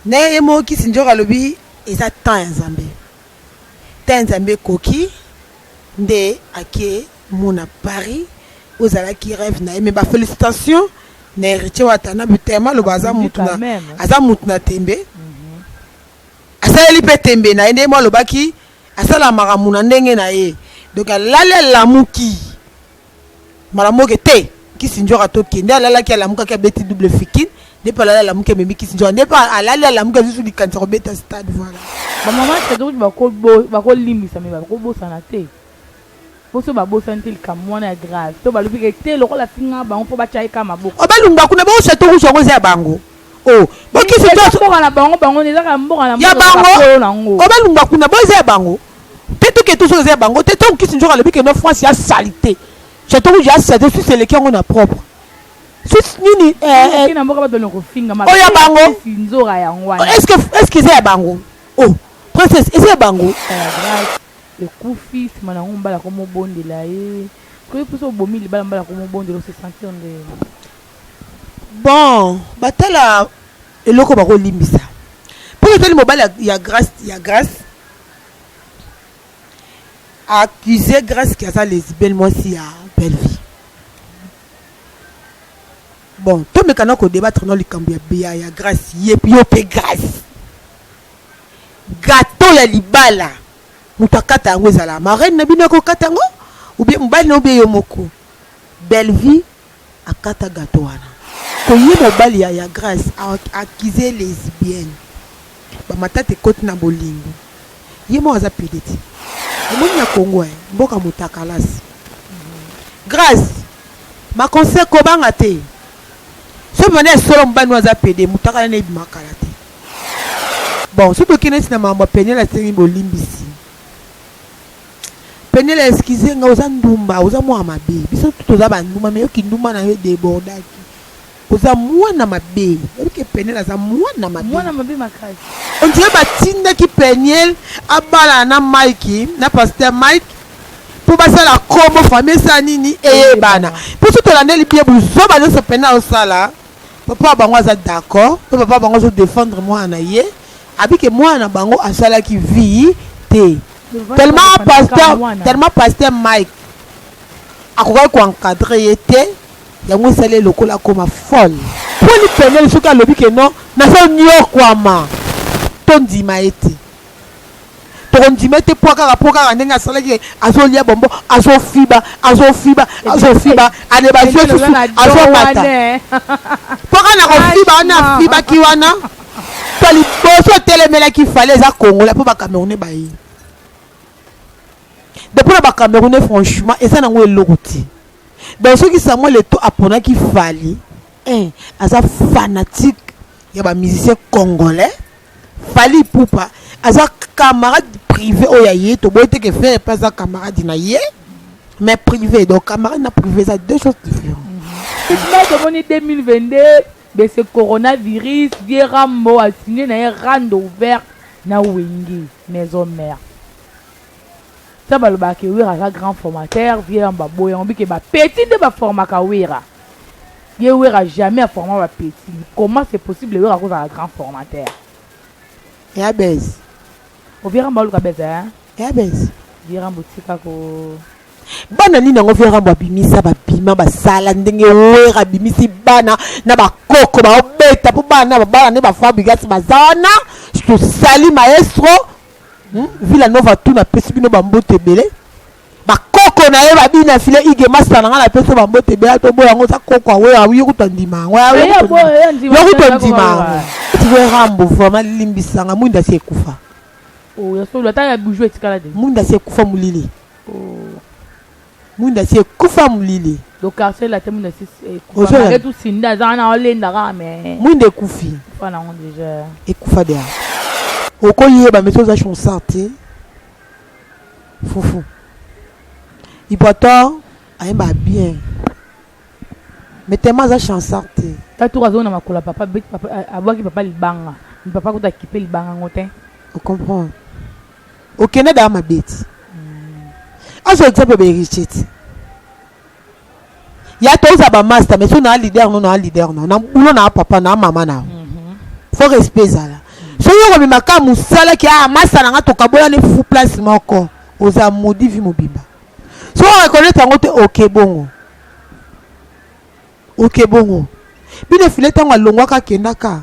Mais ye moko kisi njoka alobi eza temps ya nzambe temps ya nzambe ekoki nde ake mona paris oyo ezalaki reve na ye mais ba felicitation na heritie watanabe telema aloba aza mutu na aza mutu na tembe asaleli mpe tembe na ye nde ye moko alobaki asala makambo na ndenge na ye donc alali alamuki Mbala moke te, Kisinjora atoki. Nde alalaki, alamukaki, abeti double fikin. Nde pe alali, alamuki, amemi Kisinjora. Nde pe alali, alamuki, azui lisusu likanisi ya kobeta stade. Voila. Ba maman Cedruge bako bako limbisa mais bako bosana te po soki ba bosani te likambu wana ya grave to ba lobi ke te lokola afinga bango faut ba tia ye kaka maboko. Oba lungba kuna bo chateau rouge yango eza ya bango. Oh, bokisi to mboka na bango bango ne zaka mboka na ya bango. Oba lumba kuna bo eza ya bango. Te to ke to so eza ya bango te to kisi njoka lobi ke no France ya salite. Chateau rouge ya salite susi eleki yango na propre. Susi nini eh eh. Kina mboka ba donne ko finga ma. Oya bango. Nzora yango wana. Est-ce que est-ce que eza ya bango? Oh, princesse eza ya bango. Ekufi sima na ngo mbala ko mobondela ye. Koyebi mposo obomi libala mbala ko mobondela ose sentir nde. Bon batala eloko bako limbisa po na tali mobali ya grace ya grace a accuse grace ke aza lesbienne mwasi ya bellevie bon tomeka na ko debattre na likambo ya ya, ya grace ye yo pe grace gato ya libala moto akata yango ezala marraine na bino akokata yango ou bien mobali na yo bien yo moko bellevie akata gateau wana. Ko ye mobali ya ya grace a accuse lesbienne ba matata ekoti na bolingo ye moko aza pede ti omoni na congo eh mboka mutakalaz grace ma conseil ko banga te soki banda ya solo mobali no aza pede mutakala ne ebima kala te bon soki tokende neti na makambo ya peniel asengi bolimbisi Penielle excuse nga oza ndumba oza mwana mabe biso tout oza ba ndumba mais yo kindumba na yo debordaki oza mwana mabe oyebi ke Penielle aza mwana mabe mwana mabe makasi on dirait batindaki Penielle abalana na Mike na pasteur Mike mpo basala kombo famille esala nini eyebana mpo so tolandeli bie buzoba nyonso Penielle osala papa bango aza d'accord mpo papa bango azo défendre mwana na ye Abi ke mwana na bango asalaki vie te tellement pasteur tellement pasteur Mike akokaki ko encadrer ye te yango esali ye lokola akoma folle. Poli penel soki alobi ke non nazo niokwama tondima ye te. tokondima te po kaka po kaka ndenge asalaki azolia bombo azofiba azofiba azofiba ale bazwi susu azomata po kaka na kofiba wana afibaki wana to liboso atelemelaki fale eza kongola mpo bacamerounais baye de mpo na bacamerounais franchement eza nango eloko te donc soki samuel eto aponaki fali eh, aza fanatique ya bamusicien congolais Fally Ipupa aza camarade privé oyo ya ye toboyi te ke Ferre mpe aza camarade na ye mais privé donc camarade na privé eza deux choses différentes Effectivement, tomoni 2022 de ce coronavirus vie rambo asigne na ye rando ouvert na wenge maison mère Sa balobaka ke werra aza grand formateur vieux yambo aboyi yango bike ba petit nde ba formaka werra ye werra jamais a forma ba petit comment c'est possible werra akozala grand formateur ya bez o vieux rambo aluka bez hein ya bez vieux rambo tika ko bana nini yango vieux rambo abimisa babima basala ndenge werra abimisi bana na bakoko baobeta mpo bana babala nde bafabrigasi baza wana tosali maestro Hum, Villa Nova tout na pesi bino ba mbote ebele. Ba koko na ye ba bina file ige masta na nga na pesi ba mbote ebele to boya ngo za koko awe awe yo kuta ndima yango ya Eh, ya boya, ya ndima, yo kuta ya ndima koko, yango. wa. Tiwe Rambo vraiment limbisa nga mwinda si ekufa. Oh, ya solo ata ya bijou etikala de. Mwinda si ekufa mulili. Oh. Mwinda si ekufa mulili. Donc quartier latin mwinda si ekufa. Ozo Malgré tout Cindy aza wana olenda kaka mais. Mwinda ekufi. Ekufa nango déjà. Ekufa déjà. Okoyeba mais oza chonsard te. Fufu. Ipoator ayemba bien. Mais tellement aza chansard te. Tatu azo na makula papa beti papa abwaki papa libanga. Papa kuta kipe libanga ngotin. Vous comprenez okenda daa mabe ti azo exemple ba héritier ti ya toza ba master mais so na leader no na leader no na bulo na papa na mama na mhm. faut respect ezala soki okomema ka mosala ki ah masta na nga tokabola ne fu place moko oza modi vi mobimba so oreconnaitre yango te oke bongo oke bongo bino efile ntango alongwaka akendaka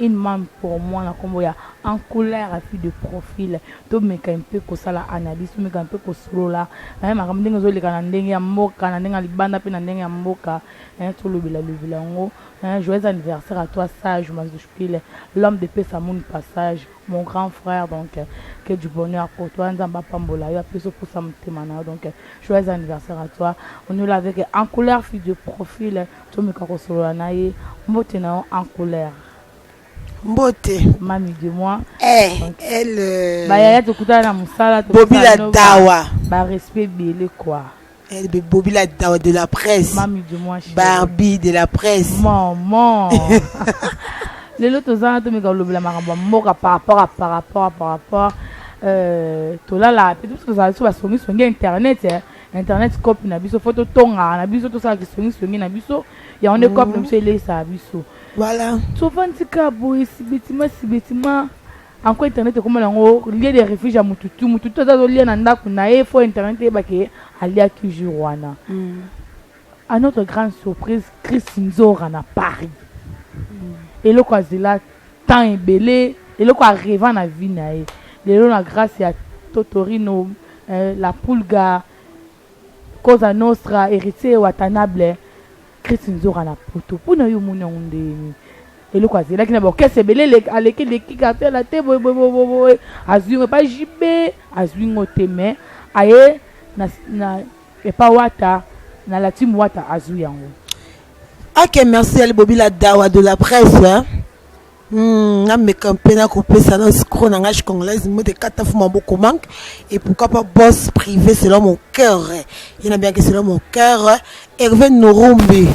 Une mame pour moi na kombo ya en couleur ya fille de profil to meka un peu ko sala analyse to meka un peu ko solola hein makambo ndenge ezo leka na ndenge ya mboka na ndenge ya libanda pe na ndenge ya mboka hein to lobela lobela ngo hein joyeux anniversaire à toi sage Manzushpile l'homme de pesa moon passage mon grand frère donc que du bonheur pour toi nzambe apambola yo apeso posa motema na yo donc joyeux anniversaire à toi on est là avec en couleur fille de profil Tomeka kosolola na ye. Mbote na yo en couleur. Mbote. Mami de moi. Eh, elle. Euh, ba yaya tokutana na musala. Bobila dawa. Ba respect bele quoi. Elle be bobila dawa de la presse. Mami de moi. Barbie de la presse. Maman. lelo toza na tomeka kolobela makambo ya mboka par rapport a par rapport a par rapport euh, tolalaka mpe biso tozala biso basongisongi ya internet eh. internet cop na biso fo totongaka na biso tosala kisongisongi na biso yango nde cop na biso eleisaka biso voilà sovantika boye sibetima sibetima anko internet ekoma nango lie de refuge ya motutu motutu aza azolia na ndako na ye fo internet eyebake alia toujours wana mm. A notre grande surprise, Chris Nzora na Paris. Eloko azela temps ebele, eloko areva na vie na ye. Lelo na grâce ya Totorino, eh, la Pulga, Cosa Nostra, Héritier Watanable, Chris Nzora na poto. Mpo na yo omoni yango ndeni? eloko azelaki na baorchestre ebele aleki leki quartier la te boye boye boye boye azwi ngo epai jibe azwi ngo te mais aye na, na Epa wata na la team wata azui yango. Ok merci Ali Bobila Dawa de la presse. Hmm, na meka mpe na kopesa na scro na ngai congolaise mode kata fu maboko manque et pourquoi pas boss privé selon mon cœur ye na bien que selon mon cœur Hervé Norumbi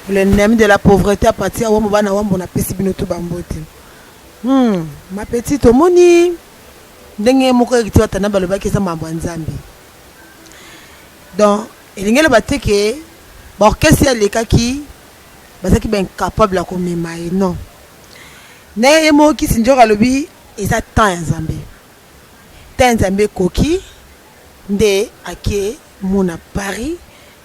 le name de la pauvreté à partir wa mobana wa mbona pesi bino to bambote hmm, ma petite omoni ndenge moko ekiti batanda balobaki eza mambo ya nzambe donc elingi eloba te ke baorchestre ye alekaki bazalaki baincapable ya komema ye non na ye moko kisi njoka alobi eza temps ya nzambe temps ya nzambe ekoki nde ake mona paris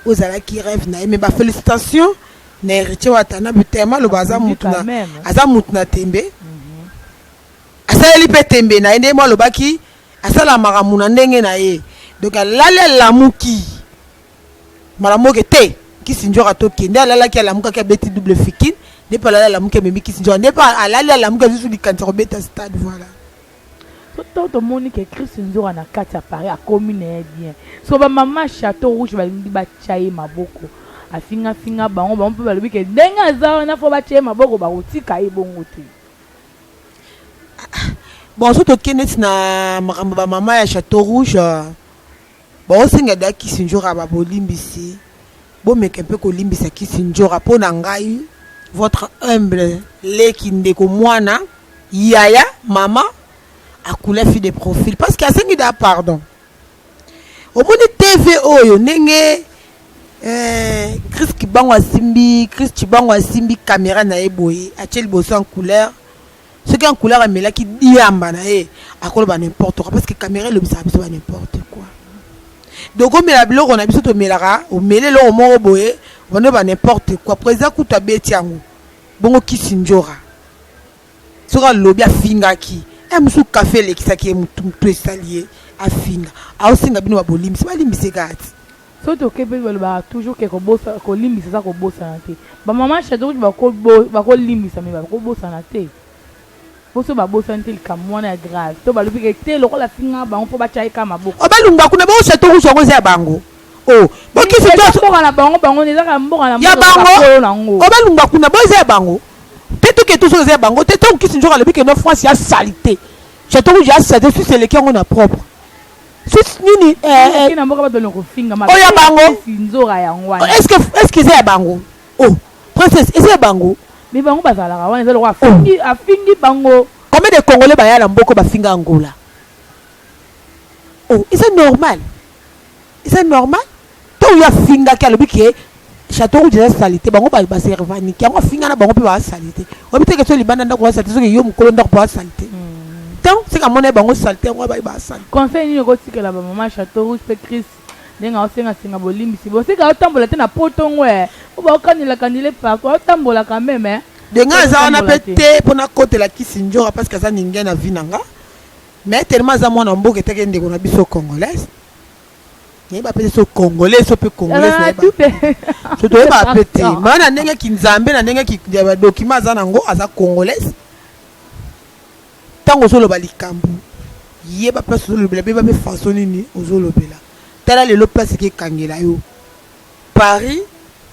ozalaki rêve na ye me bafélicitation na héritier watana butema aloba aza mutu na aza mutu na tembe mhm. asaleli mpe tembe na ye nde ye mo alobaki Asala makambo na ndenge na ye. Donc alali alamuki. Mbala moke te. Kisi njoka to kende alalaki alamukaki abeti double fikin nde pe alali alamuki amemi kisi njoka nde pe alali alamuki azusu likanisa kobeta stade voilà. Ntango tomoni ke Chris Nzora na kati ya Paris akomi na ye bien, so ba mama chateau rouge balingi batya ye maboko afingafinga bango, bango mpe balobi ke ndenge aza wana fo batya ye maboko, bakotika ye bongo te. Bon so toke neti na makambo ba mama ya chateau rouge baosenga da kisindjora ba bolimbisi bomeka mpe kolimbisa kisindjora mpo na ngai votre humble leki ndeko mwana yaya mama akulafi de profil parce que asengi da pardon Omoni TV oyo ndenge eh, Chris Kibango asimbi Chris Kibango asimbi kamera na ye boye atie liboso en couleur soki en couleur amelaki diamba na ye akoloba n'importe quoi parce que kamera elobisaka biso ba n'importe quoi donc omela biloko na biso tomelaka omeli eloko moko boye bando ba n'importe quoi président kutu abeti yango bongo kisi njora soki alobi afingaki e mosusu kafe elekisaki ye motu motu esali ye afinga aosenga bino babolimbisi balimbisi kati soki tokebeli balobaka toujours ke kolimbisa eza kobosana te bamama shato kutu bakolimbisa me bakobosana te poso babosani te likambo wana ya grave to balobi ke te lokola afinga bango mpo batya ye kaka maboko obalumba kuna bao shato kutu yango eza ya bango oh, bokisi mboka na bango bango ezaka mboka na bango obalumba kuna bo eza ya bango te toke tozo eza ya bango te tango kisi nzoka alobi keno france ya salite chateau rouge ya salite susi eleki yango na propre susi nini eh, eh. oyo ya bango eske eza ya bango o oh, princesse eza ya bango me bango bazalaka wana eza lokola oh. afingi bango combien de congolais baya na mboko bafinga angola o oh, eza normal eza normal To oyo afingaki alobi ke chateau rouge eza salite bango ba ba servaniki yango afinga na bango mpe ba salite oyebi te ke so libanda ndako ba salite soki yo mokolo ndako mpe ba salite tant c'est qu'à mon avis bango salite yango abayi ba salite conseil nini okotikela ba maman chateau rouge mpe chris ndenge aosengasenga bolimbisi bosika otambola te na poto ngo e o baokanela kanile pako otambola quand même eh. denge aza wana mpe te mpo nakotela kisi njora parce que aza ninge na vi na nga mais tellement aza mwana mboka eteke ndeko na biso congolaise nayeba mpe te so congolais so mpe congolais Ah, nayeba tout est- so toyeba mpe te Partout. maa na ndenge kinzambe na ndenge ki- ya badokima aza na yango aza congolaise ntango ozoloba likambo yeba place ozolobela beba mpe faso nini ozolobela tala lelo place ekekangela yo Paris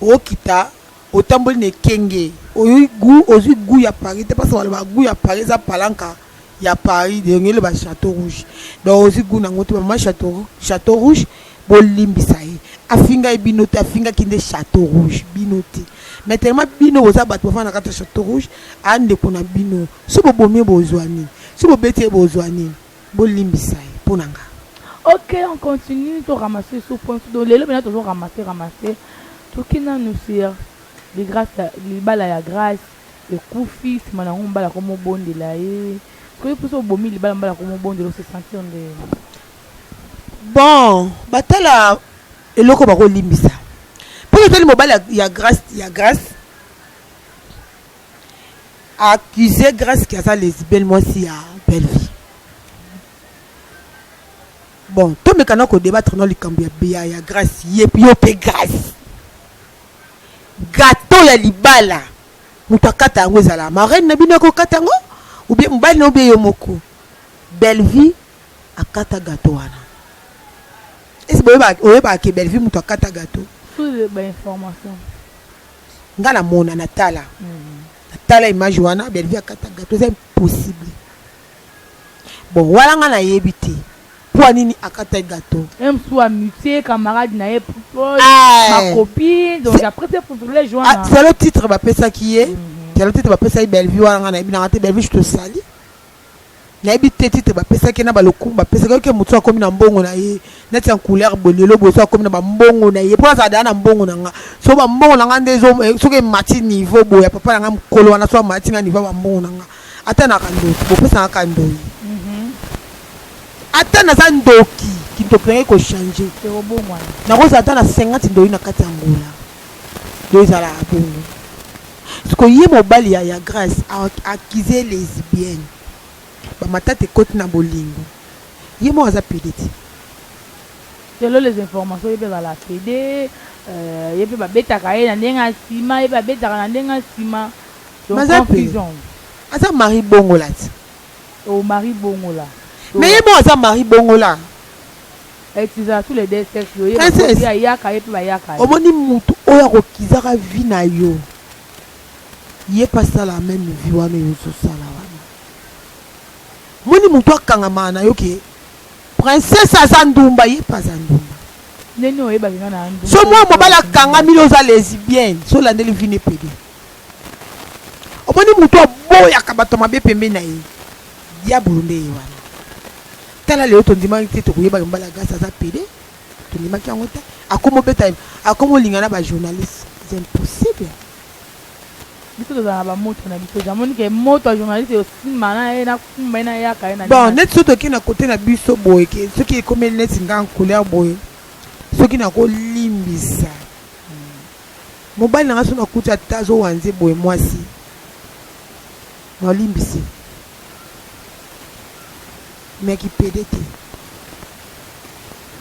okita otamboli na ekenge oyoki gout ozui gout ya Paris te parce que balobaka gout ya Paris eza palanca ya Paris donc eloba chateau rouge donc ozui gout nango te maman chateau chateau rouge bolimbisa ye afinga ye bino te afingaki nde chateau rouge bino te mais tellement bino boza bato bafanda na kati ya chateau rouge a ndeko na bino so bobomi ye bozua nini so bobeti ye bozua nini Bo limbisa ye po na nga. Ok on continue to ramasser sous point sous donc lelo pena tozo ramasser ramasser toki nanu sur de grace ya libala ya grace ekufi sima nango mobali akomi obondela ye soki yo pe osi obomi libala mobali akomi obondela o se sentir ndenge Bon ba tala eloko bako limbisa po na tali mobali ya grace ya grace A accuse grace que aza lesbienne mwasi ya Bellevue. Bon to meka na ko debattre na likambo ya ya, ya grace ye yo pe grace. Gateau ya libala moto akata yango ezala marraine na bino akokata yango ou bien mobali na obie yo moko. Bellevue akata gateau wana. Est-ce que oyebaka ke Bellevue moto akata gateau? Sous ba information. nga na mona na tala na tala image wana Bellevue akata gato eza impossible bon wana nga na yebi te poa nini akata gato même sous amitié camarade na ye proche ah, ma copine donc après ce privilège wana ah, c'est le titre ba pesa ki ye mm -hmm. c'est le titre ba pesa ye Bellevue wana nga na yebi na nga te Bellevue je te salis Nayebi te titre ba pesaki ye na ba lokumu ba pesaki ye, ok mutu soki akomi na mbongo na ye neti en couleur boye lelo boye soki akomi na ba mbongo na ye po nazala dejà na mbongo na nga soki ba mbongo na nga nde ezo soki emati niveau boye ya papa na nga mukolo wana soki amatisi nga niveau ya ba mbongo na nga ata na ka ndoki bopesa nga ka ndoyi ata naza ndoki kindoki na nga eko changer Ekobongwana. nakozala ata na 50 ndoyi na kati ya angola Donc ezalaka bongo. Sikoyo ye mobali ya ya grace a accuse ye lesbienne. Ba matata ekoti na bolingo. Ye moko aza pede te. Selon les informations ye pe azalaka pede, ye pe ba betaka ye na ndenge ya sima, ye pe abetaka na ndenge ya sima. Donc Mais aza pede. confusion. Aza mari bongola ti. Oh mari bongola. Mais ye moko aza mari bongola. Princess, omoni mutu oyo akokizaka vie na yo, ye pe asala meme vie wana oyo ozo sala wana. Omoni mutu akangamaka na yo que Princess aza ndumba, ye pe aza ndumba. Soki mwana mobali akangami na oza lesbienne, soki olandeli vie ne pede. Omoni mutu aboyaka batu ya mabe pembeni na ye. Diabulu nde ye wana. Tala lelo tondimaki te tokoyebaki mbala Grace aza pede. Tondimaki yango te. Akomo beta akomo linga na ba journalistes. C'est impossible. biso tozala na bamoto na biso jamoni ke moto ya journaliste eosimba na ye nakumba ye nayaka ye na bon nini. neti soki toke na kote na biso boye ke soki ekomeli neti nga couleur boye soki nakolimbisa mobali na nga soki nakuti ata azowanze boye mwasi Nolimbisi mais ki pede te.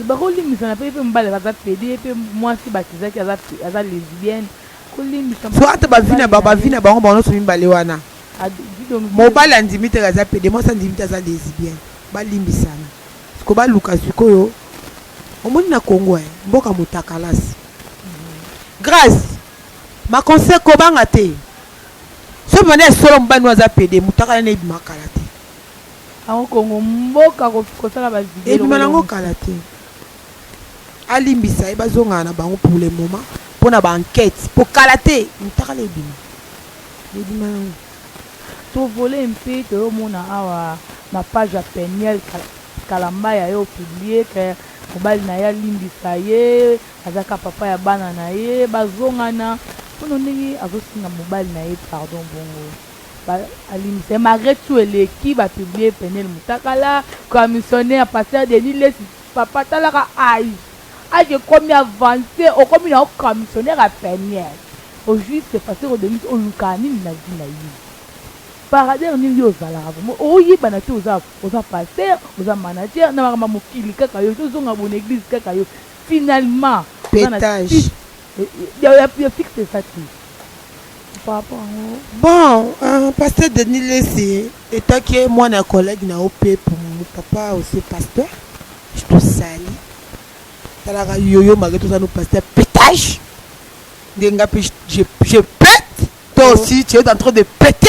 Ba ko limbisa na pe pe mobali aza pe pede pe mwasi batizaki aza aza lesbienne ko limbisa. So ata ba vie na ba ba vie na bango bango nionso mibale wana mobali andimi te aza pede mwasi andimi te aza lesbienne ba limbisana siko ba luka sikoyo omoni na Congo eh mboka mutakalasi grace ma conseil kobanga te. Soki mwana ya solo mobali no aza pede mutakala naye ebima kala te. Yango Congo mboka kosala ba video ebima nango kala te alimbisa ye bazongana na bango pour le moment mpo na ba enquete mpo kala te mutakala ebima ebima nango tovole mpe toyomona awa mapage ya peniel kalambaya yo publie ke mobali na ye alimbisa ye Aza ka papa ya bana na ye bazongana mpono ndenge azosenga mobali na ye pardon bongo ba alimbisa ye malgre tout eleki ba publie Penielle Mutakala comme missionnaire pasteur Denis Lessi papa talaka age age ekomi avance okomi na yo comme missionnaire ya Penielle au juste pasteur Denis olukaka nini na vie na yo parader nini yo ozalaka vraiment oyebana te oza oza pasteur oza manager na makambo ya mokili kaka yo tozonga bo na eglise kaka yo Finalement oza na Petage. titre ya ya ya fixe eza te par rapport yango Bon, euh, pasteur Denis Lessi, etant que mwana ya collègue na yo pe pour mon papa aussi pasteur, je te sali. Talaka yoyo malgré tout oza no pasteur petage. Nde nga pe je, je, je pète. Toi aussi, tu es en train de péter.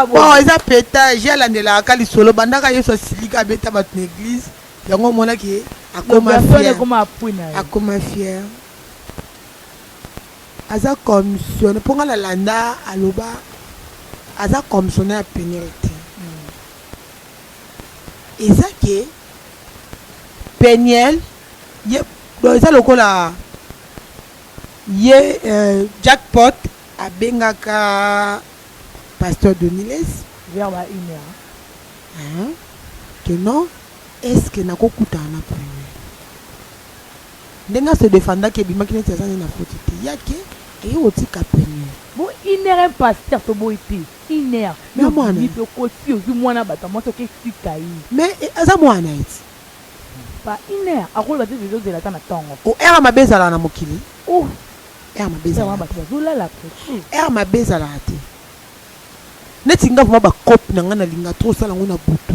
bon eza petage ye alandelaka ka lisolo bandaka yesu asilika abeta bato na église yango omonaki ye akoma fier akoma fier aza commissionne mpo ngai nalanda aloba aza commissionne ya penel te eza ke peniel Ye donc eza lokola ye euh, jackpot abengaka pasteur doniles vers ba une heure hein, que non est ce que nakokutana na premier ndenge ase defendaki ebimaki neti aza nde na foti te yake eye kotika premier bo une heure un pasteur toboyi te une heure Na mwana. pe okoti ozwi mwana bato ya mwasi oke tika ye mais eh, aza mwana eti Ba une heure akoloba te tozo zela ata na tongo. Oh heure mabe ezalaka na mokili oh heure mabe ezalaka te. Heure wana batu bazo lala apres. Heure mabe ezalaka te neti nga vraiment ba cope na nga na linga trop sala ngo na butu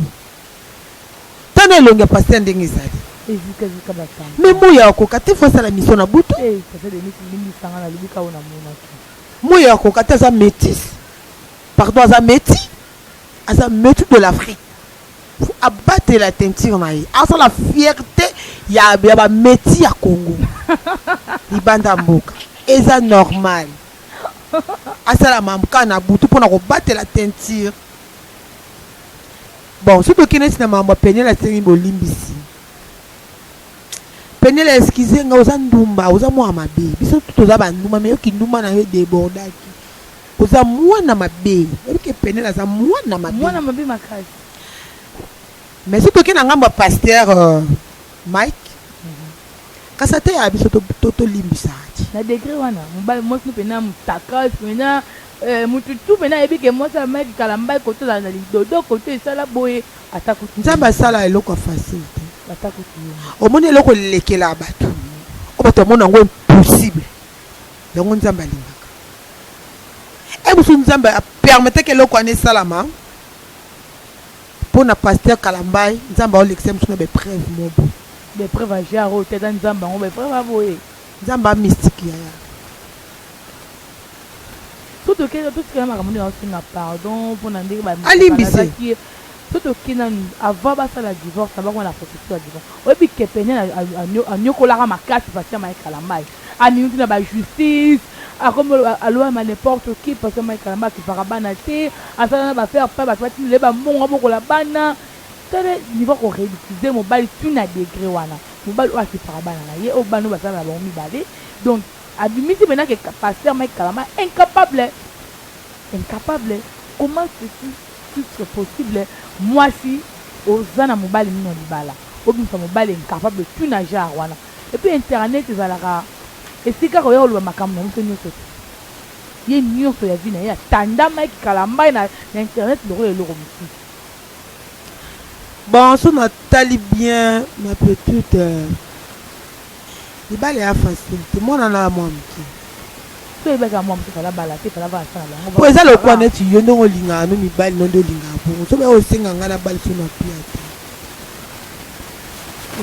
tana elongi ya pasteur ndenge ezali. Ezika zika ba tantins. Mais moi ya koka te faut sala mission na butu. Eh pasteur Denis limbisa nga na lobi ka oyo na monaki. Moi ya koka te aza metis pardon aza meti aza meti de l'Afrique. Faut abatela teinture na ye asala fierte ya ya ba metis ya Congo libanda ya mboka eza normal asala mamka na butu mpona kobatela teinture bon soki tokei neti na mambo ya penele asengi bolimbisi penele excuse nga oza ndumba oza mwa mabe biso tu toza bandumba me yo kindumba na yo edebordaki Oza muana mabe oyebi ke penel aza muana mabe. Muana mabe makasi. Mais soki toke na ngambo ya pasteur euh, Mike kasi ateya biso tolimbisa ti na degre wana mobali mwasi no mpena mutakas mpena eh, mutu tu mpena ayebi ke mwasi ya mike kala mbai koto ozala na lidodo koto esala boye ata kutu nzambe asala eloko ya facile te ata kutu omoni eloko elekela bato oyo bato bamona yango impossible Yango Nzambe alingaka eh busu Nzambe a permettre que eloko wana esalama pona pasteur Kalambay Nzambe ao lekisa biso na ba epreuve moko boye. Ba epreuve ya genre oyo te ata Nzambe yango ba epreuve ya boye. Nzambe a mystique yaya. Soki tokenda totikala makambo nde naosenga pardon mpo na ndenge bamibalazaki ye soki toke nanu avant basala divorce na bango na processus ya divorce oyebi kepene anyokolaka makasi pasi ya maye kalambai Amiyuti na ba justice akomi oloba aloyama n'importe qui parce que Mike Kalambay akipaka bana te asala na ba faire part batu batindela ye ba mbongo abokola bana tala niveau ya ko ridiculiser mobali ti na degre wana mobali oyo akipaka bana na ye oyo bana oyo bazala na bango mibale donc abimisi maintenant que pasteur Mike Kalambay incapable incapable comment ceci titre possible mwasi oza na mobali mino libala obimisa mobali incapable ti na genre wana. Et puis internet ezalaka esika koya koloba makambo na biso nioso te. Ye nioso ya vie na ye atandamaki kalambayi na internet lokola eloko mosusu. Bon soki na tali bien ma petite libala ea facile te muana na mua muke. Soki ayebaki ya mua muke fallait abala te fallait avanda na bango. Po eza lokola neti yo ndenge olingaka no mibali no nde olingaka bongo soki bayaki kosenga nga nabaliso na pia te.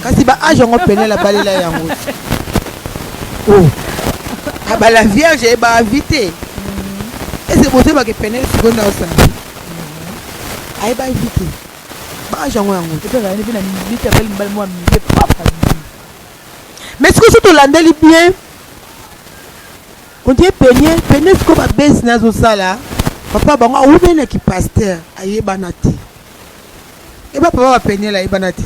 Kasi ba age yango penel abalela yango oh. abala vierge ye ba avis te ese bozoyebake penel sikoyo nde osala ayeba avi te ba age yango yango mais sikoyo so tolandeli bien ondie penie penie sikoyo babesi nazosala papa bango awumeli na kipaster ayebana te eba eh, papa bapenela ayebana te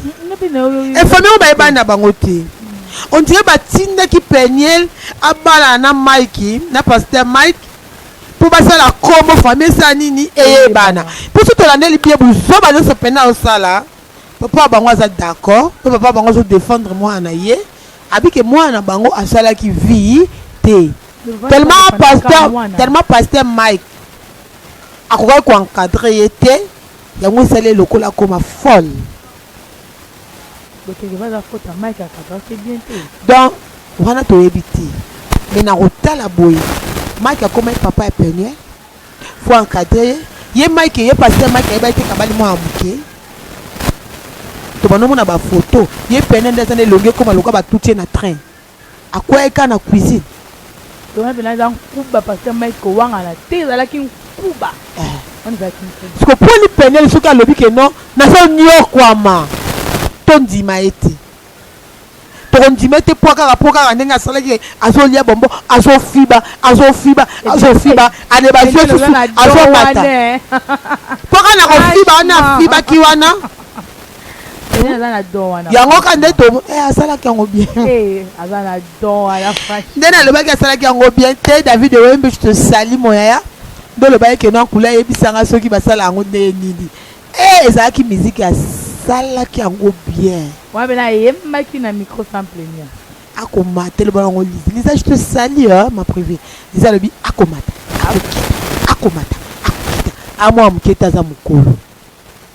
efami yango bayebana na bango te on dirait batindaki peniel abalana na mike na paster mike mpo basala kombo fami esala nini eyebana mpo so tolandeli bie buzoba nyonso pene aosala papa ya bango aza d'accord mpe papa ya bango azodefendre mwana na ye abike mwana na bango asalaki vie te tellement pasteur tellement pasteur mike Akokaki ko encadrer ye te yango esali ye lokola akoma folle. Bokende baza faute ya Mike akadra te bien te. Donc wana toyebi te mais na kotala boye Mike akomaki papa ya Peniel faut encadrer ye ye Mike ye pasteur Mike ayebaki te kabali mwana moke tobanda omona ba photo ye Peniel nde aza na elongi ekoma lokola batuti ye na train. Akueyaki kaka na cuisine. Toma pena aza nkuba pasteur Mike kowangana te ezalaki nkuba eh. wana ezalaki nkuba siko poni penele soki alobi ke non nazo niokwama tondima ye te tokondima ye te mpo kaka mpo kaka ndenge asalaki azolia bombo azofiba azofiba azofiba ane bazwi susu azomata mpo kaka na kofiba wana afibaki wana Pene aza na don wana. Yango ka nde to eh asalaki yango bien. Eh aza na don wana fashi. Nde nalobaki asalaki yango bien te David Wembe je te salis mon yaya. Nde olobaki que non kula yebisa nga soki basala yango nde nini. Eh ezalaki musique asalaki yango bien. Wana bena yembaki na micro sans plaignant. Akomata eloba yango Lisa. Lisa je te salis hein, ma privée. Lisa lobi akomata. Akomata. Akomata. Akomata. Amwa muketa za mukolo.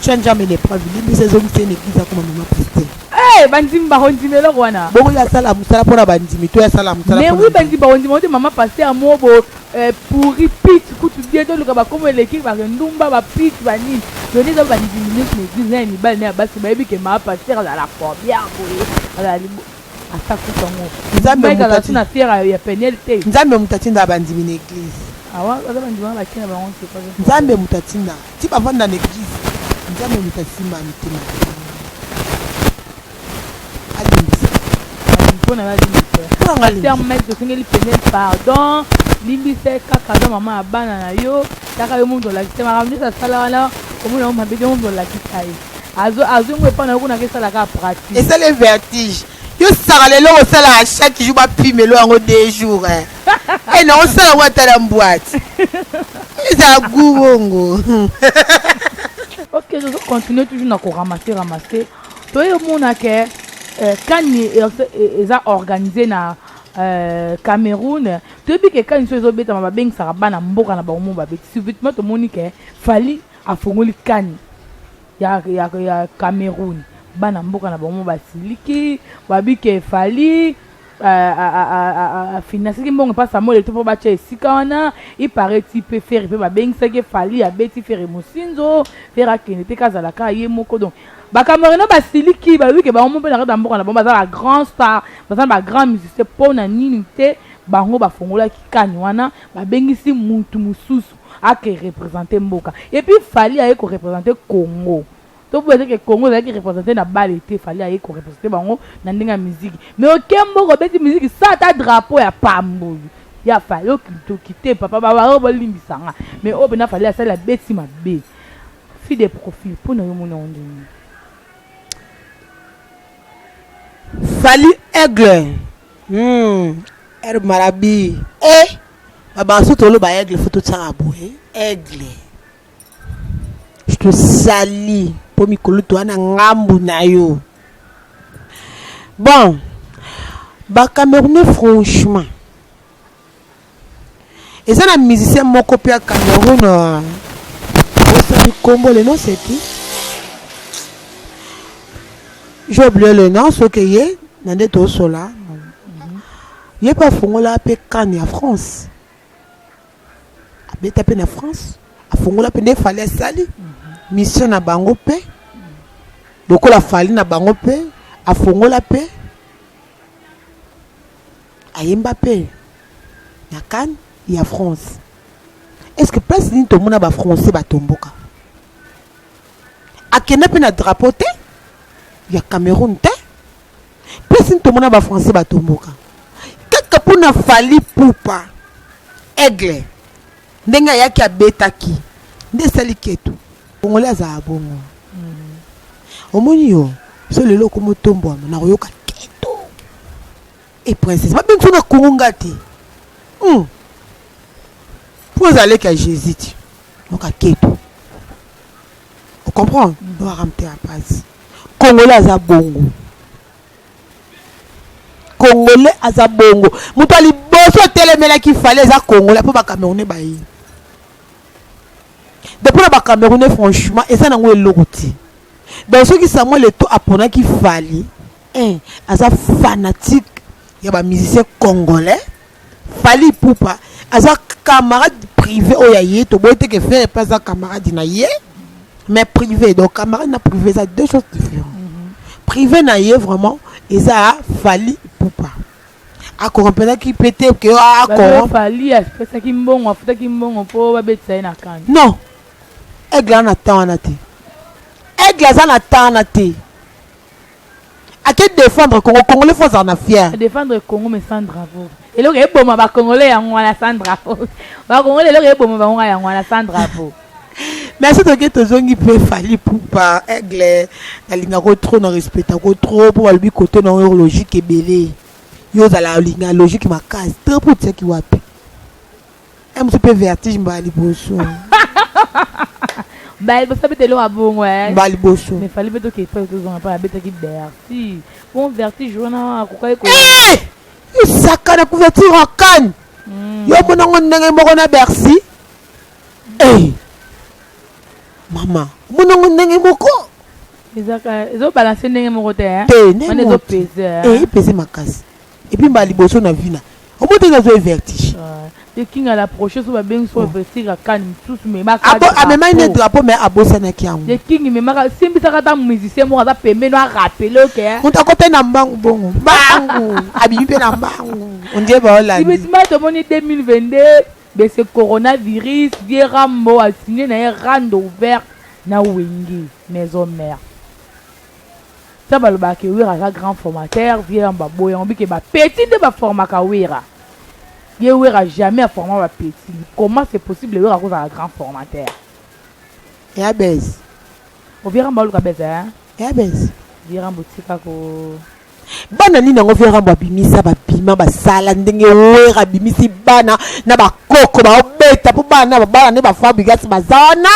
Tu as jamais une épreuve. Limbisa ezongisa ye na eglise akoma mama pasteur. Eh, bandimi bakondima eloko wana bongo ye asala mosala mpo na bandimi to ye asala mosala mais mpo na oui nzambe. bandimi bakondima ote mama pasteur mo bo eh, pourri pit kutu bien toluka bakomo eleki bakendumba bapit banini yoni eza bandimi nyonso na eglise na ya mibali na ya basi bayebi ke mama pasteur azala combien boye azala libo ata kutu yango nzambe moto ati na fiera ya peniel te nzambe moto atinda bandimi na eglise awa ah, aza bandimi na bakina bango te nzambe moto atinda ti bavanda na eglise nzambe moto asimba mitema alimbisa mpona alimbisa mike tosengeli peniel pardon limbisa kaka aza mama ya bana na yo taka yo moto olakisa makambo nyonso asala wana omona yo mabe yo moto olakisa ye azo azwi ngo epai na yo kuna kesala kaka pratique esali ye vertige yo saka lelo osalaka chaque jour bapimelo yango deux jours eh. e na osala yango ata na mbwati ezala gu bongo ok tozo continue toujours na koramase ramase toye omona ke eh, kani e, e, eza organise na eh, cameroun toyebi ke kani so ezobetama babengisaka bana mboka na bango mo babeti subitement tomoni ke fali afongoli kani ya, ya, ya cameroun bana mboka na bango basiliki babike fali afinasaki mbongo epa samuel eto mpo batya esika wana ipareti mpe fere mpe babengisaki fali abeti fere mosinzo fere akende te kazala kaka ye moko donc bacamerino basiliki balobi ke bango mpe na kati ya mboka na bango baza ba grand star baza na ba grand musicien mpo na nini te bango bafongolaki kani wana babengisi mutu mosusu ake representer mboka et puis Fally aye ko representer Congo tobuba te ke Congo ezalaki representer na bale te Fally aye ko representer bango na ndenge ya musique mais oke mboka obeti musique sa ata drapeau ya pamboli ya Fally okintoki te papa ba waro bolimbisa nga mais oyo pena Fally asali abeti mabe fille de profil mpo na yo mona yango ndenge Fally aigle Hum herbe marabi eh ba banso tolo ba aigle faut totiaka boye aigle je te sali mpo mikolo toa na ngambu na yo bon ba camerounais franchement eza na musicien moko mpe ya cameroun euh, osali nkombo le nom c'est qui j'ai oublié le nom soki ye na nde tosola ye mpe afongola mpe kane ya france abeta mpe na france afongola mpe nde fali asali mission na bango mpe lokola fali na bango mpe afongola mpe Ayemba pe na can ya France. Est ce que place nini tomona ba français batomboka? Akenda pe na drapeau te ya Cameroun te. Place nini tomona ba français batomboka? Kaka mpo na Fally Ipupa aigle ndenge ayaki abetaki nde esali ketu Congolais azala bongo. Mm. Omoni yo, so lelo okomo tombwama na koyoka keto. Et princesse, ba bengi na Congo ngati. Mm. Pour aller qu'à Jésus, tu. Donc à keto. On comprend? Mm. On va ramener la base. Congolais aza bongo. Congolais aza bongo. Mutu ali boso telemela ki fallait aza Congolais po ba Camerounais ba ye. donc mpona ba camerounais franchement eza nango eloko te donc soki samuel eto aponaki fali eh, aza fanatique ya ba musicien congolais fali pupa aza camarade privé oyo ya ye toboyi te ke fere mpe aza camarade na ye mais privé donc camarade na privé eza deux choses différentes privé na ye vraiment eza fali pupa a corrompelaki mpe te ke a corromp fali apesaki mbongo afutaki mbongo mpo babetisa ye na kani non aigle aza na temps wana te aigle aza na temps wana te ake défendre congo congolais fo azala na fier défendre congo mais sans drapeau eloko eboma bacongolais yango wana sans drapeau bacongolais eloko eboma bango yango wana sans drapeau merci toke tozongi mpe fali pupa aigle nalingako trop na respectako trop mpo balobi kote na oyo logique ebele yo ozala olinga logique makasi trop mpo otiaki wapi e mosu mpe vertige mbala liboso baliboso abeta eloko abongo eh. baliboso mais fali mpe toke epai tozonga mpo abetaki vertige bon vertige wana akokaki ko eh! isaka na couverture ya kane hmm. yo monango ndenge moko na bercy Hey! Mama, omona ngo ndenge moko? Ezaka ezo balancer ndenge moko te hein. Te, ndenge moko. Ezo peser. Eh, peser makasi. Et puis mbali boso na vina. Omona te nazo vertige. Te kinga la prochaine so ba bengi so vestir akani misusu mais ba Abo amemaki ne drapeau mais abosanaki yango. Te kingi mais maka simbisaka ta musicien moko aza pembeni a rappeler ok. Konta ko pe na mbangu bongo. Mbangu. Abibi pe na mbangu. On dirait ba Hollande. Ibe tima tomoni 2022 de ce coronavirus vieux rambo a signe na ye rando ouvert na wenge maison mère sa balobaka ke wera aza grand formateur vieux rambo aboyi yango bike ba petit nde baformaka wera ye wera jamais aforma ba petit comment c'est possible wera akozala grand formateur ya bese o vieux rambo aluka bese hein ya bese vieux rambo tika ko bana nini yango vieux rambo abimisa babima basala ndenge wera abimisi bana na bakoko baobeta mpo bana na babala nde bafabrigas baza wana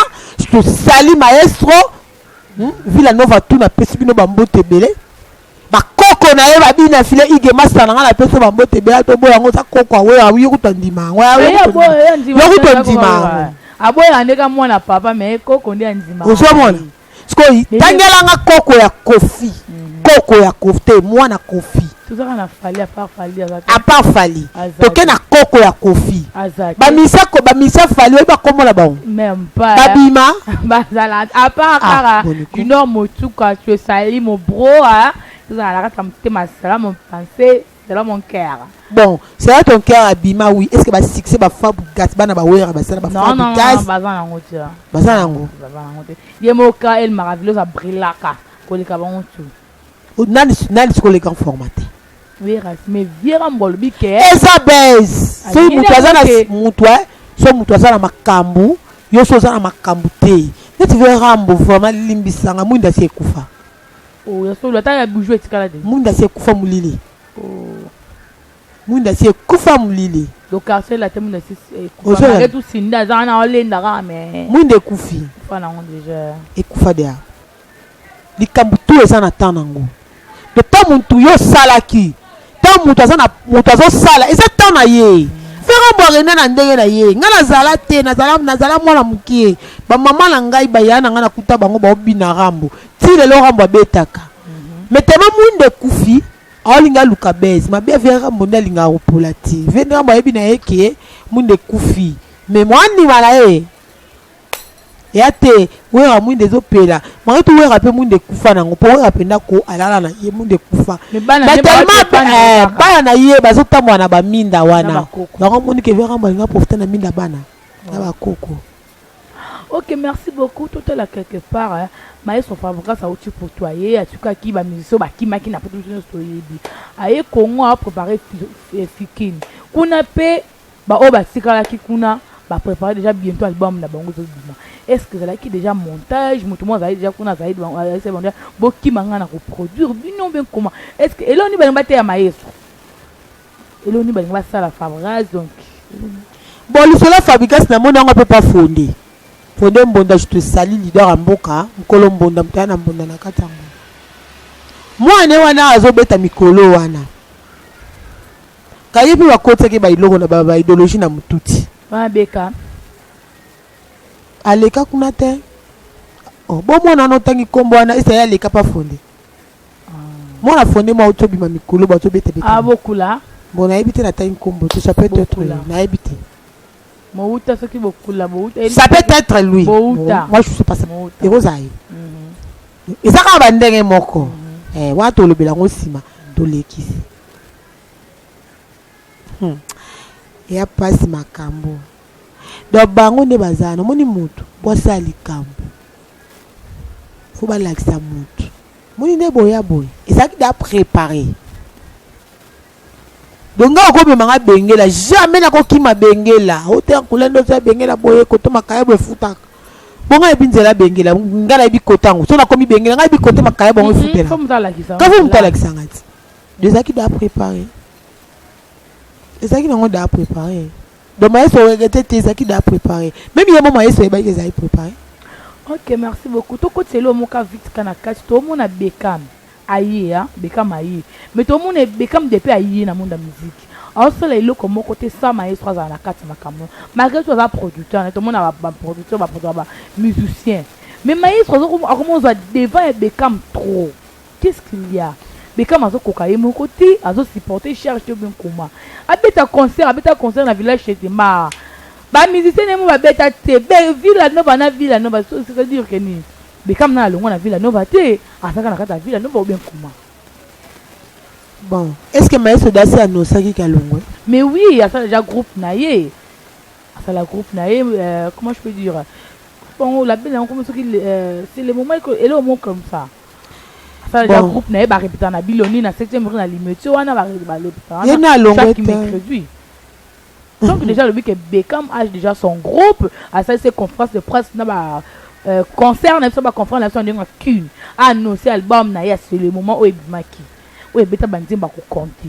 tosali maestro hmm? villa nova tu napesi bino bambote ebele bakoko na ye babina file ige masta na ngai napesi bambote ebele atoboya yango oza koko awe awi okuta ndima yango yokuta ndima yango aboya ndeka mwana papa me koko nde andima ozomona sikoyo tangela nga koko ya kofi mhm. koko ya kofi te mwana kofi apart fali toke na koko ya kofi bamisa ko bamisa fali oyebi bakomola bango babima bazala apart kaka junior motuka tu esali mobroa tozala na kati ya motema salamu mpense Zala mon cœur. Bon, sera ton cœur abima oui. Est-ce que ba succès ba Fabregas bana ba Wera ba sala ba Non, non, non, Fabregas baza nango te. baza nango. Baza nango te. Ye moka El Maravillos abrillaka koleka bango tout. O- Nani nani siko le grand formaté. Wera, mais Viera Mbolobi ke. Eza base. Ah, Soki yende mutu aza na yango te. mutu eh, so mutu aza na makambu, yo so oza na makambu te. Neti vya Rambo vraiment limbisanga mwinda si ekufa. Oh, ya solo ata ya bijou etikala te. Mwinda si ekufa molili. Oh. Mwinda si ekufa molili. Donc quartier la temu na si ekufa. Malgré tout Sinda aza wana olenda kaka mais. Mwinda ekufi. Ekufa nango déjà. Ekufa déjà. Likambo tout eza na temps nango. Mpe mpo motu yo osalaki ntango moto aza na moto azosala eza ntango na ye fere bwarena na ndenge na ye ngai nazala te nazala nazala mwana mokie bamama na ngai baya na ngai nakuta bango baobina rambo ti lelo rambo abetaka me tema mwinda ekufi aolinga aluka base mabe ya vere rambo nde alingaka kopola te vere rambo ayebi na ye ke mwinda ekufi me mwandima na ye Ya te werra muinda ezo pela maritu werra pe muinda ekufa nango po werra penda ko alala na ye muinda ekufa ba telema eh, bana na ye bazo tambola na ba minda wana yango moni ke werra mbo alinga profita na minda bana na ba koko ok merci beaucoup totala quelque part hein. maestro fabricas auti poto aye atikaki bamusicien bakimaki na poto biso nyonso toyebi aye congo aprépare fikini kuna mpe Ba oyo batikalaki kuna ba preparer dejà bientot album na bango ezo bima. Est ce que ezalaki dejà montage mutu moko azali dejà kuna azali dejà azalaki bango dejà bokima nga na ko produire bino ou bien comment? Est ce que eloko nini balingi bateya maestro? Eloko nini balingi basala Fabregas donc? Bon lisolo ya Fabregas namoni yango mpe pa fonde. Fonde Mbonda je te salue leader ya mboka nkolo Mbonda moto aya na Mbonda na kati ya Mbonda. Mwana ne wana azobeta mikolo wana. Kaye pe ba kotaki ba eloko na ba ideologie na mututi. Wana beka. Aleka kuna te. Oh, bo mwana wana otangi kombo wana esa ya leka pa fonde. Ah. Mwana fonde mwa oto bima mikolo ba to bete bete. Ah bokula. Bon nayebi te natangi kombo te ça peut être autre nayebi te. Mouta soki bokula bouta. Ça peut être lui. Mouta. Moi je sais pas ça. Mouta. Ekozai. Mhm. Ezaka ba ndenge moko. Mhm. Eh wa to lobela ngo sima to lekisi. Hmm. ya pasi makambo donc bango nde baza wana omoni motu po asala likambo fo balakisa motu moni nde boya boye ezalaki da prépare donc nga okomema nga bengela jamais nakokima bengela oteya nkula nde oza bengela boye koto makaya boye efutaka bonga yebi nzela bengela nga nayebi kote yango so nakomi bengela nga yebi kote makaya bongo efutela kasi moto alakisa nga ti Ezalaki dejà prepare, ezalaki nango dejà prepare. Donc Maestro o regrette te, ezalaki dejà prepare. Meme ye moko Maestro ayebaki ezalaki prepare. Ok merci beaucoup tokotisa eloko moko kaka vite kaka na kati tomona Beckham aye hein Beckham aye mais tomona Beckham depuis aye na monde ya musique aosala eloko moko te sans maestro azala na kati ya makambo malgré tout aza producteur na tomona ba ba producteur ba producteur ba musicien mais maestro akomozwa devant ya Beckham trop Qu'est-ce qu'il ya? Beckham azo koka ye moko te azo supporter charge te bien koma abeta concert abeta concert na village chez ma ba musiciens nemo ba beta te be villa nova na villa nova c'est à dire que ni Beckham na alongwa na villa nova te azaka na kata villa nova ou bien koma Bon, est-ce que Maestro Dasi annosaki Kalongwe Mais oui, asala déjà groupe na ye. Asala groupe na ye, euh, comment je peux dire Bon, la belle yango soki euh, c'est le moment que elo mo comme ça. Fallait Bon. groupe naye barepeta na biloni na 7e rue na limete wana bare- barepeta Ye na alongwe chaque te. mercredi donc déjà alobi que Beckham age déjà son groupe asali se conférence de presse na ba euh, concert na biso ba conférence na biso na ndenge ya kin annonce album na ye ya c'est le moment oyo ebimaki oyo ebeta banzembo akocompte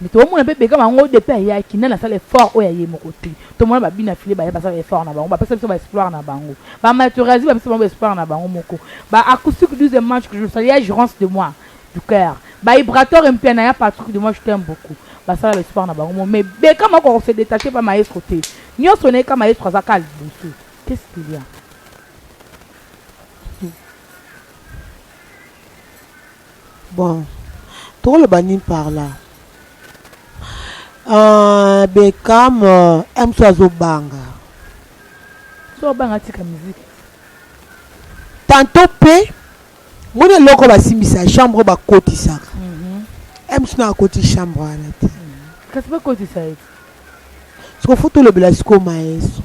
Mais to mona pe Beckham ango de pe ayaki nani asala effort oyo ya ye moko te. To mona ba Bina File baya basala effort na bango ba pesa biso ba exploire na bango. Ba Materazzi ba pesa bango ba exploire na bango moko. Ba Acoustique 12 match que je le salue ya gerance de moi du coeur. Ba Ibrator Mpiana ya Patrick de moi je t'aime beaucoup. Basala ba exploire na bango moko mais Beckham akoka ko se detacher pa Maestro te. Nionso na ye kaka Maestro aza kaka liboso. Qu'est ce qu'il ya? Bon toko loba nini par là? Ahh Beckham euh, MC azo banga. Soki obanga atika musique. Tantôt pe moni eloko basimbisa chambre bakotisaka. MC na akoti chambre wana te. Kasi bakotisa ye te. Siko fo tolobela siko maestro.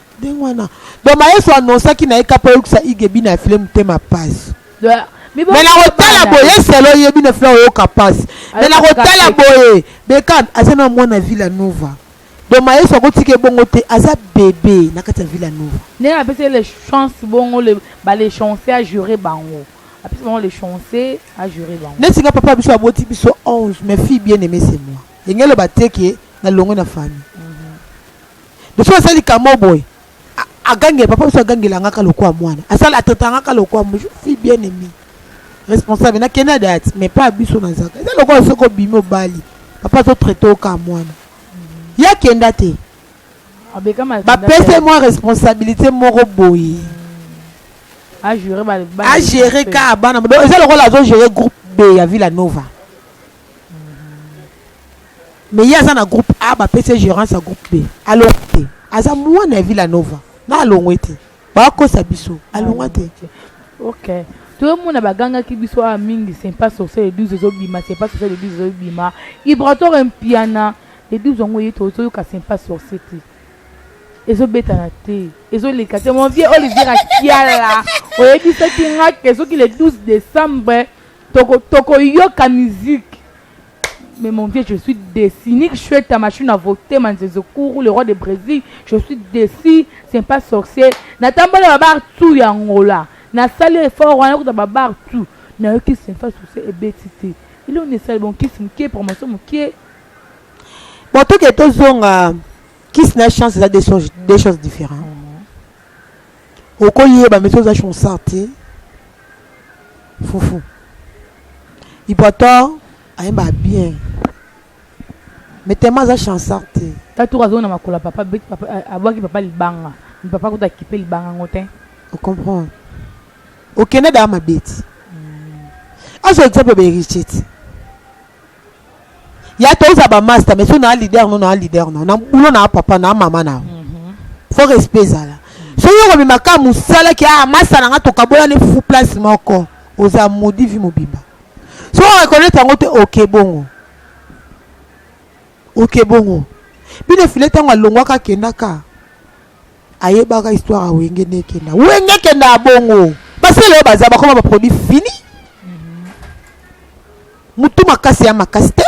Ndenge wana. Donc Mayesu annonsaki na ye kaka mpo ayokisa Ige Bina ya Fille motema pasi. Mais nakotala boye selo ye bino fila oyoka pasi. Mais nakotala boye Beckham aza na mwana Villa Nova. Donc Mayesu akotika ebongo te aza bebe na kati ya Villa Nova. Ndenge apesi le chance bongo le ba le chance a jure bango. Apesi bango le chance a jure bango. Neti nga papa biso aboti biso 11 mais fille bien aimée c'est moi. Engelo bateke na longo na famille. De fois asali kamo boye agangela papa biso agangela ngaka lokola mwana asala atata ngaka lokola fi bien aimé responsable na kenda date mais pas biso na zaka eza lokola soki obimi obali papa to traite oka mwana ya kenda te bapese mwa responsabilité moko boye agere ka bana eza lokola azogere groupe b ya villa nova mais ye aza na groupe a bapesi ye gerance ya groupe b alongo te aza mwana ya villa nova na alongo ete bakosa biso alongo te ok tozomona bagangaki biso awa mingi sempa sorcier le 12 ezobima sempa sorcier le 12 ezobima ibrator mpiana le 12 yango ye tozoyoka sempa sorcier te ezobetana te ezoleka te mon vieux olivier akiala oyebisaki nga ke soki le 12 décembre Toko toko yoka musique. Mais mon vieux, je suis déçu. Nick Shueta, Machine à voter, Manzezo Kourou, le roi de Brésil. Je suis déçu. C'est pas sorcier. Natambole babar tout ya Angola. Na sali effort wana kuta babar tout. Na yoki c'est pas sorcier et betite. Il on est sali bon kiss mkie promotion mkie. Bon toke tozonga kiss na chance eza deux choses deux choses différentes. Oko yeba mais oza chonsard te fufu il pourtant ayemba bien mais tellement aza chansard te tatour azongi na makolo ya papa beti papa abwaki papa libanga mi papa kuta akipe libanga yango te ocomprendre okende daa mabeti azwa exemple ya baheritier te ya toza ba master mais so na leader no na leader no na boulot na papa na mama na faut respect ezala soki okomema kaka mosala ke ah masa na nga tokabola ne fufu place moko oza modi vi mobimba soki oreconnaitre yango te oke bongo oke bongo bino efile ntango alongwaka akendaka ayebaka histoire ya wenge nde ekenda wenge ekenda ya bongo basele oyo baza bakoma baproduit fini motu makasi ya makasi te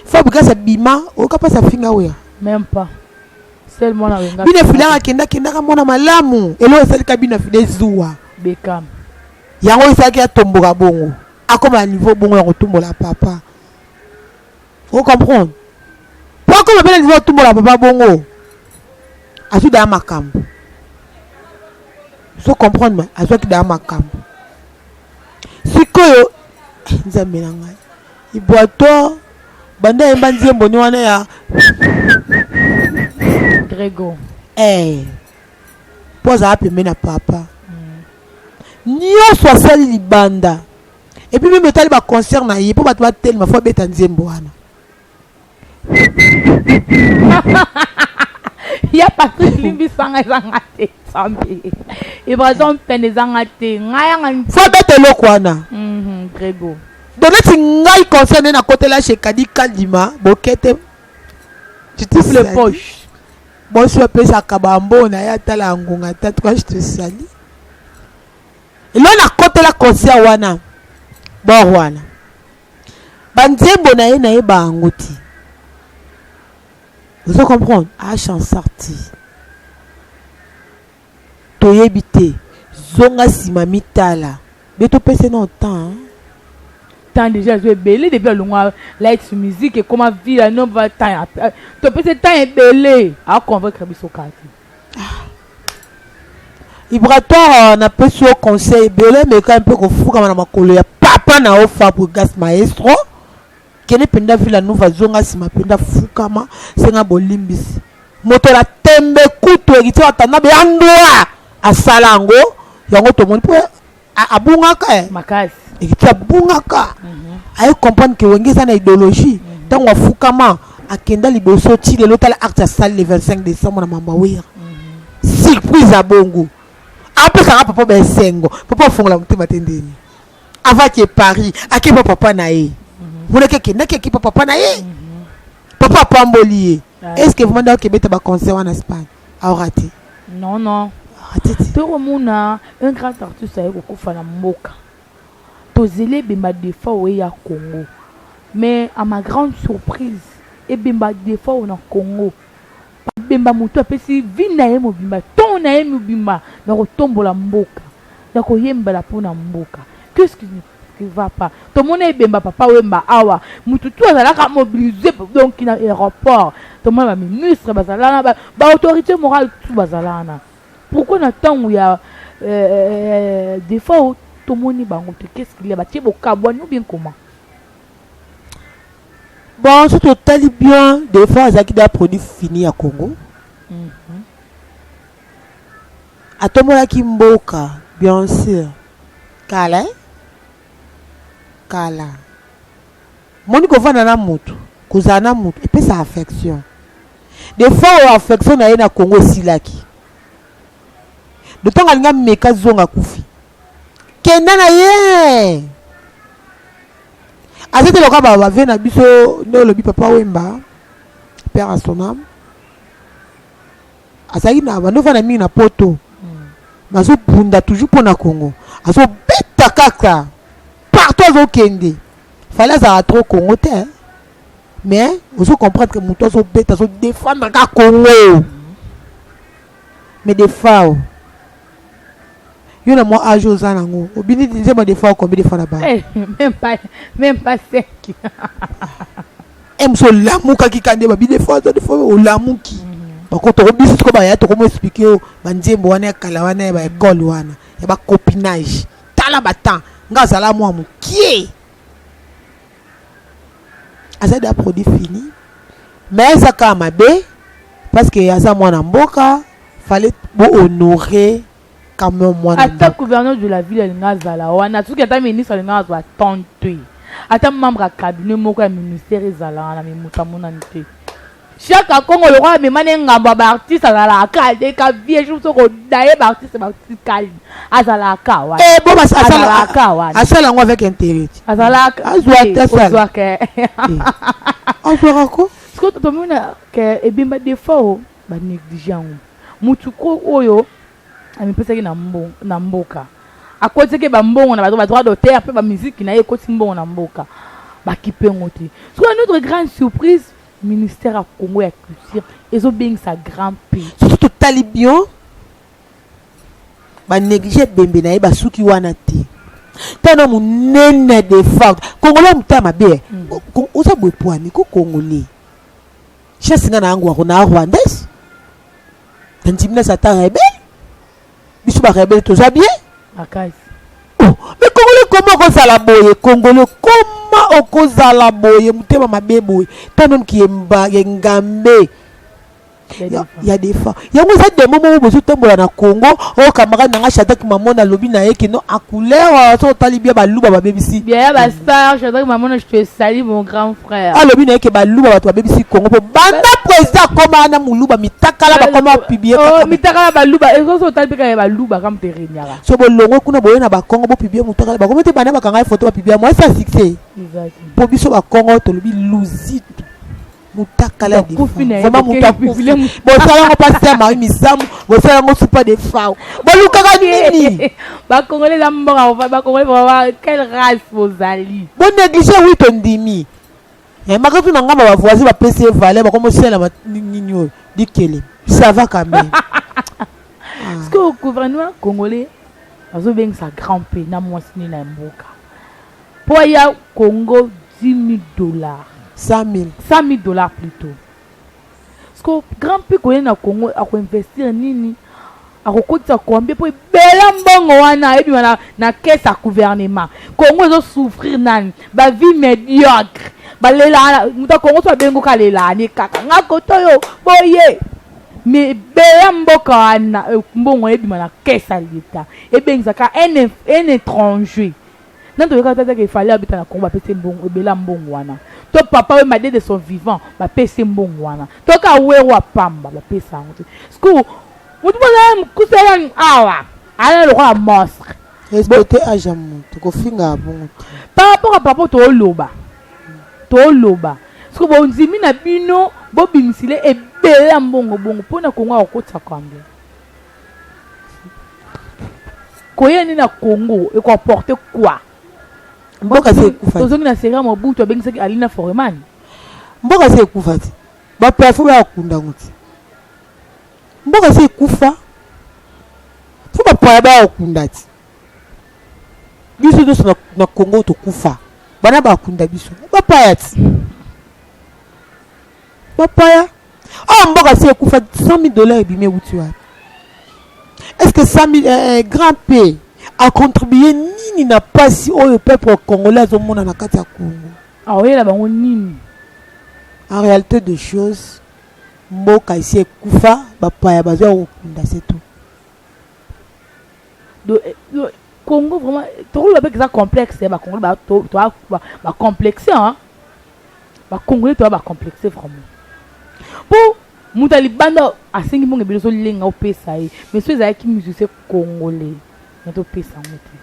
fabrigas abima oyoka mpasi afinga oya même pas sel mwana wenga bino efilaka kenda kendaka mwana malamu elo esalika bino afida ezuwa bekam yango esalaki atomboka bongo akoma na niveau bongo ya kotumbola papa o comprendre po akoma bena niveau atumbola papa bongo azwi daya makambo so comprendre ma azwaki daya makambo sikoyo eh, nzambe na ngai ibwato banda yemba nzembo ni wana ya grego eh po azala pembe na papa mm. nyonso asali libanda Et puis même etali ba concert na ye po bato batelema fo abeta nzembo wana ya patrick limbisanga ezanga te sambe ebrason pene ezanga te ngai yanga fo abeta eloko wana mhm, grego donc neti ngai concert nde nakotela chez kadi kalima bokete triple poche bosi bapesaka bambo na ye atala ya ngonga te atuka je te sali Lelo na kotela concert wana bord wana ba nzembo na ye na ye bango ti ozo comprendre a chansar ti toyebi te zonga nsima mitala be topese nao temps temps déjà azo ebele depuis alongwa light musique ekoma vila no va temps topesi temps ebele aconvaincre biso kati Ibratoire na pesi yo conseil ebele meka mpe kofukama na makolo ya papa na yo Fabregas maestro kende mpenza Villa Nova zonga nsima mpenza fukama senga bolimbisi moto na tembe kutu ekitia watanabe ya ndwa asala yango yango tomoni mpo A- abungaka eh. makasi ekiti abungaka aye comprendre ke wenge eza na idéologie ntango afukama akenda liboso ti lelo tala acte asali le 25 décembre na mamba wira surprise ya bongo apesaka papa baesengo papa afongola motema te ndeni avaki e paris akeba papa na ye monaki akendaki akeba papa na ye papa apamboli ye Ah. est ce que vraiment ndako ebeta baconcert wana espagne Aorate. Non non. Aorate ti. Toko mona un grand artiste aye kokufa na mboka. Tozeli ebemba defa oye ya Congo. Mais à ma grande surprise ebemba defa o na Congo. Ebemba moto apesi vie na ye mobimba, temps na ye mobimba na kotombola mboka, na koyembela mpo na mboka. Qu'est-ce qui ne Qui va pas tomona ebemba papa wemba awa mutu tu azalaka mobilise donc na aéroport tomona ba ministre bazalana ba, ba autorité morale tu bazalana pourquoi na tango ya euh, defaut tomoni bango te qu'est-ce qu'il y a batie bokabwani ou bien comment bon soki totali bien defaut azalaki da produit fini ya congo mm -hmm. Atombolaki mboka bien sur kala hein kala moni kovanda na mutu kozala na mutu epesa affection de fois oyo affection na ye na Congo esilaki de ntango alinga meka zonga kufi kenda na ye aza te lokola bavie na biso nde olobi papa wemba père asonam azali na bando fana mingi na poto mais azobunda toujours mpo na congo azobeta kaka partout azokende fale azala trop congo te hein. mais ozo comprendre que moto azobeta azodefendre kaka congo mais defao yo na mwa age oza nango obini nzemba de fois combien de fois na ba eh, même pas même pas 5 ems olamukaki ka nde babi de fois de fois olamuki mhm. bakotoko biso siko baya tokomo explike yo banzembo wana ya kala wana ya baekole wana ya bacopinage tala batemps nga azala mwa mokie aza da produit fini mais aza kaka mabe parce que aza mwana mboka fallait bo honorer quand même mwana ata gouverneur de la ville alinga azala wana soki ata ministre alinga azwa temps te ata membre ya cabinet moko ya ministère ezalaka na mimutu amonani te Shaka Kongo lokola amema ne ngambo ya ba artiste azalaka kaka te ka vieux jour soko daye ba artiste ba artiste kali azalaka kaka wana Eh, bon, bas- asala- azalaka kaka wana asala yango avec intérêt ti. azalaka Azwa te, ata sala. ozwa ke azwaka ko siko tomona ke ebemba defa o ba néglige yango mutu ko oyo amipesaki na mbo- na mboka akotiki bambongo na bato ba droit d'auteur mpe bamiziki na ye ekoti mbongo na mboka bakipe yango te sikoyo notre grande surprise Ministère ya Congo ya culture ezo bengisa grand P. Soki totali bien ba neglige ebembe na ye basuki wana te tana munene de forte congolais motema mabe eh. mm. oza boye pwani ko congolais chasse nga na yango ako na rwandais tandimi na satan rebele biso ba rebelle toza bien makasi oh, mais congolais koma okozala boye congolais koma okozala boye motema mabe boye ta nome kiyemba yengambe ya defa yango eza demo moko bozotambola na congo oyo oh, camarade na ngai shadraki mamona alobi na ye kino akuleur soki otali bia baluba babebisi bia ya bastar shadraki mamona je te sali mon grand alobi na ye ke baluba bato babebisi kongo mpo banda president akoma na moluba mitakala bakoma piblie oh, mitakala baluba ezozo otali mpe kaka baluba kama mpe renyaka so bolongwe kuna boye na bakongo bopiblie motakala bakomi te banda bakanga ye foto bapiblia mwa esi asuccès mpo biso bakongo tolobi luzitu mutakala ya vraiment mutu akufi bosala yango mpasi ya mari misamu bosala yango supa de fau bolukaka nini Ba congolais za mboka ko ba congolais ba quelle race bozali? Bo négliger oui to ndimi. Eh makatu na ngamba ba voisins ba pesi valeur ba komo sela nini oyo dikele. Ça va quand même. Parce que au gouvernement congolais azo bengisa grand P na mwasi ni na mboka. Po ya Congo 10 000 dollars. 100 000. 100 000 dollars plutôt. Siko grand prix koye na Congo ako investir nini? akokotisa combien mpo ebela mbongo wana ebima na, na caisse ya gouvernement congo ezo souffrir nani ba vie médiocre balelana moto ya congo so abengo ka lelane kaka nga koto yo boye mais ebela mboka wana eh, mbongo ebima na caisse ya leta ebengisaka un étranger Nani toyokaka te atake fale abeta na Congo bapesi mbongo ebela mbongo wana to papa we madede son vivant bapesi mbongo wana to ka wero ya pamba bapesa yango te sku motu mozala mokuse elani awa alala lokola monstre respecte age ya motu kofinga bongo te par rapport ya papa tooloba tooloba sku bondimi na bino bobimisile ebela mbongo bongo mpo na kongo akokotisa kwambe koya nde na congo ekoporte quoi mboka se ekufa tozongi na sera mobutu abengisaki alina foreman mboka se ekufa te baplafo bayakunda yango te mboka se ekufa fo bapaya bayakunda te biso nyonso na, na congo tokufa bana bakunda biso bapaya ti bapaya oyo mboka si ekufa 100000 dollars ebimi ewuti wapi est ce que 100000 eh, eh, grand p acontribue nini na mpasi oyo peuple congolais azomona na kati ya congo aoyela bango nini en réalité de choses mboka esi ekufa bapaya bazwa kokunda se tout do do congo vraiment tokoloba mpe eza complexe ya bacongolais ba, to, to, ba, ba complexe hein? bacongolais toya bacomplexe vraiment mpo moto ya libanda asengi mbongo ebele ozolenga opesa ye mais so ezalaki musicien congolais na topesa yango te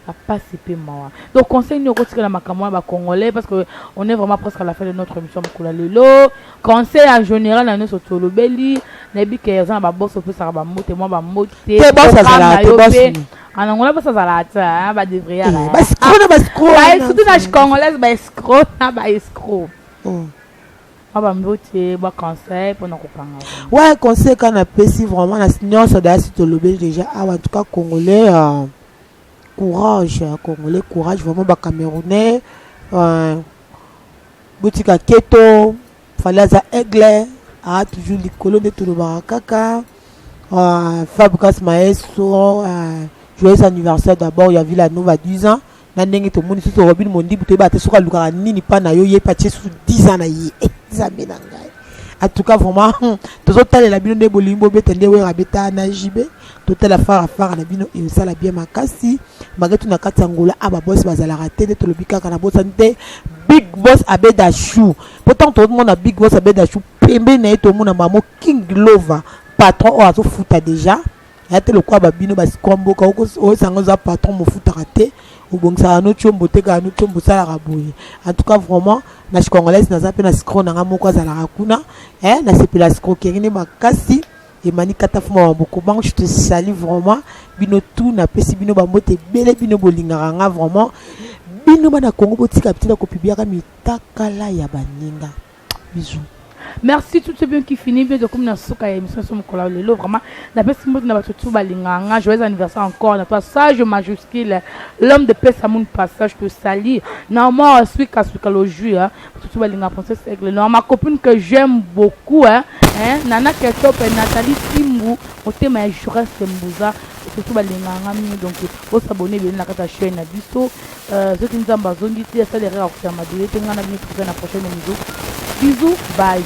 ba pasi pe mawa donc conseil nini okotikela makambo wana ba congolais parce que on est vraiment presque à la fin de notre émission mokolo ya lelo conseil en général na nyonso tolobeli nayebi ke oza na babosi opesaka bambote mwa bambote Te boss azalaka te, boss ni. anangola basi azalaka te hein, ba devrier Eh, ala ba scroc na ba scroc ba- wana. surtout na congolaise ba escro na ba escro Mm. Ah, ba mbote ba conseil pona kokanga vraiment. Ouais, conseil quand na pesi vraiment na nyonso da si to lobeli déjà ah en tout cas congolais euh, courage euh, congolais courage vraiment ba camerounais euh, botika keto fallait aza aigle ah toujours likolo nde tolobaka kaka euh, Fabregas Maestro euh, joyeux anniversaire d'abord ya Villa Nova 10 ans na ndenge tomoni susu robin mondibu toyebaka te soki alukaka nini mpa na yo ye mpe atie susu 10 ans na ye eh, nzambe na ngai en tout cas vraiment hmm, tozotalela bino nde bolingi bobeta nde wera abeta na jb totala fara fara na bino esala bien makasi malgre tu na kati ya ngola a ah, babos bazalaka te nde tolobi kaka na bosani te big boss abeda chou mpo ntango tokomona big boss abeda chou pembeni na ye tomona mamo king lova patron oyo azofuta déjà ya te lokola babino basikwa mboka oyosanga oza patron mofutaka te obongisaka no combo otekaka no combo osalaka boye en tout cas vraiment na chicongolaise naza mpe na sikro na ngai moko azalaka kuna eh, nasepela sikrokerie nde makasi emani kata fuma wa bokobango je te sali vraiment bino tu napesi bino bambote ebele bino bolingaka nga vraiment bino bana kongo botika bitina kopibiaka mitakala ya baninga bisous merci tout ce bien qui finit bien tokomi na suka ya émission so mokolo lelo vraiment napesi mbote na bato tu balingaka nga joyeux anniversaire encore na toi sage majuscule l'homme de pesa moon passage to sali na omar swika swika le jus hein bato tu balingaka princesse aigle na ma copine que j'aime beaucoup hein hein nana ketop et nathalie timbu motema ya jureste mbuza bato tu balingaka nga mingi donc osabone ebele na kati ya chaîne na biso Euh, soki nzambe azongi ti asali erreur akokita mabele te ngai na bino tokozai na prochaine émission bisous bye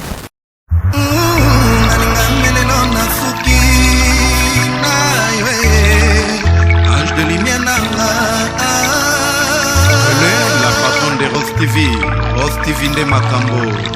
TV, Rose TV nde makambo